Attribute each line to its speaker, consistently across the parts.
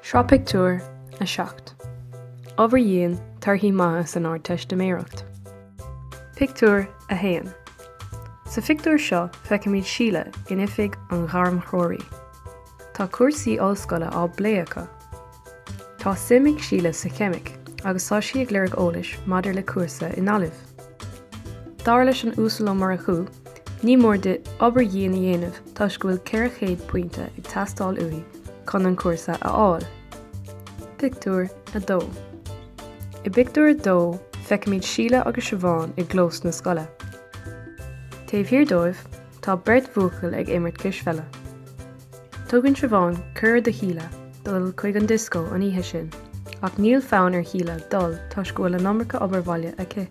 Speaker 1: Sraith pictiúr a seacht. Obair dhian, torthaí maithe san Ardteistiméireacht. Pictiúr a haon. Sa phictiúr seo feicimid Síle in oifig an ghairmthreoraí. Tá cúrsaí ollscoile á bplé acu. Tá suim ag Síle sa cheimic agus tá sí ag lorg eolais maidir le cúrsa i nGaillimh. Dar leis an Uasal Ó Murchú, ní mór di obair dhian a dhéanamh toisc go bhfuil 400 pointe ag teastáil uaithi chun an cúrsa a fháil. Pictiúr 2 I bpictiúr a dó, feicimid Síle agus Siobhán i gclós na scoile. Taobh thiar dóibh, Tá beirt bhuachaill ag imirt cispheile. Tugann Siobhán cuireadh do Shíle dul chuig an dioscó an oíche sin ach níl fonn ar Shíle dul toisc go bhfuil an iomarca obair bhaile aici.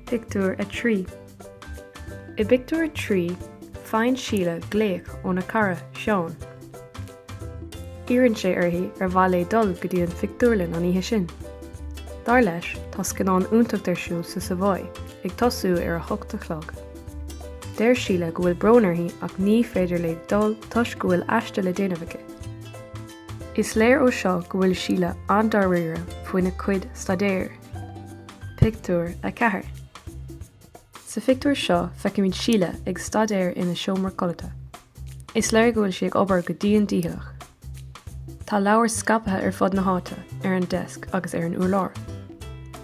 Speaker 1: Pictiúr 3 I bpictiúr a trí, faigheann Síle glaoch óna cara, Seán. Iarrann sé uirthi ar mhaith léi dul go dtí an phictiúrlann an oíche sin. Dar leis, tá scannán iontach ar siúl sa Savoy ag tosú ar a hocht a chlog. Deir Síle go bhfuil brón uirthi ach ní féidir léi dul toisc go bhfuil aiste le déanamh aici. Is léir ó seo go bhfuil Síle an-dáiríre faoina cuid staidéir. Pictiúr 4. Sa phictiúr seo feicimid Síle ag staidéar ina seomra codlata. Is léir go bhfuil sí ag obair go dian dícheallach. Tá leabhair scaipthe ar fud na háite, ar an deasc agus ar an urlár.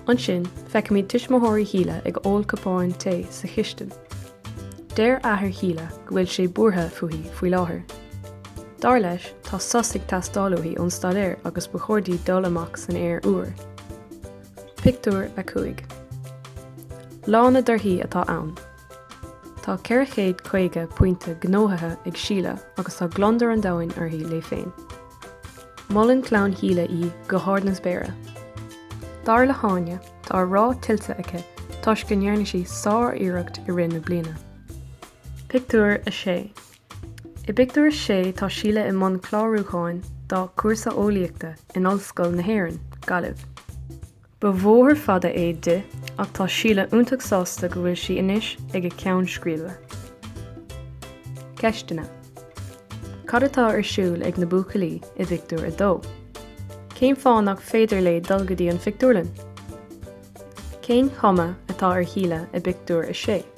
Speaker 1: Ansin feicimid tuismitheoirí Shíle ag ól cupáin tae sa chistin. Deir athair Shíle go bhfuil sé buartha fúithi faoi láthair. Dar leis tá sos ag teastáil uaithi ón staidéar agus ba chóir di dul amach san aer úr. Pictiúr 5. Lá na dtorthaí atá ann. Tá 450 pointe gnóthaithe ag Síle agus tá gliondar an domhain uirthi léi féin. Molann cara Shíle í go hard na spéire. Dar le hÁine, tá rath tuillte aici toisc go ndearna sí sár-iarracht i rith na bliana. Pictiúr 6. I bpictiúr 6 tá Síle i mbun clárúcháin dá cúrsa eolaíochta in Ollscoil na hÉireann, Gaillimh. Ba bhóthar fada é di ach tá Síle iontach sásta go bhfuil sí anois ag a ceann scríbe. Ceisteanna Cad atá ar siúl ag na buachaillí i bpictiúr 2? Cén fáth nach féidir léi dul go dtí an phictiúrlann? Cén chuma atá ar Shíle i bpictiúr 6?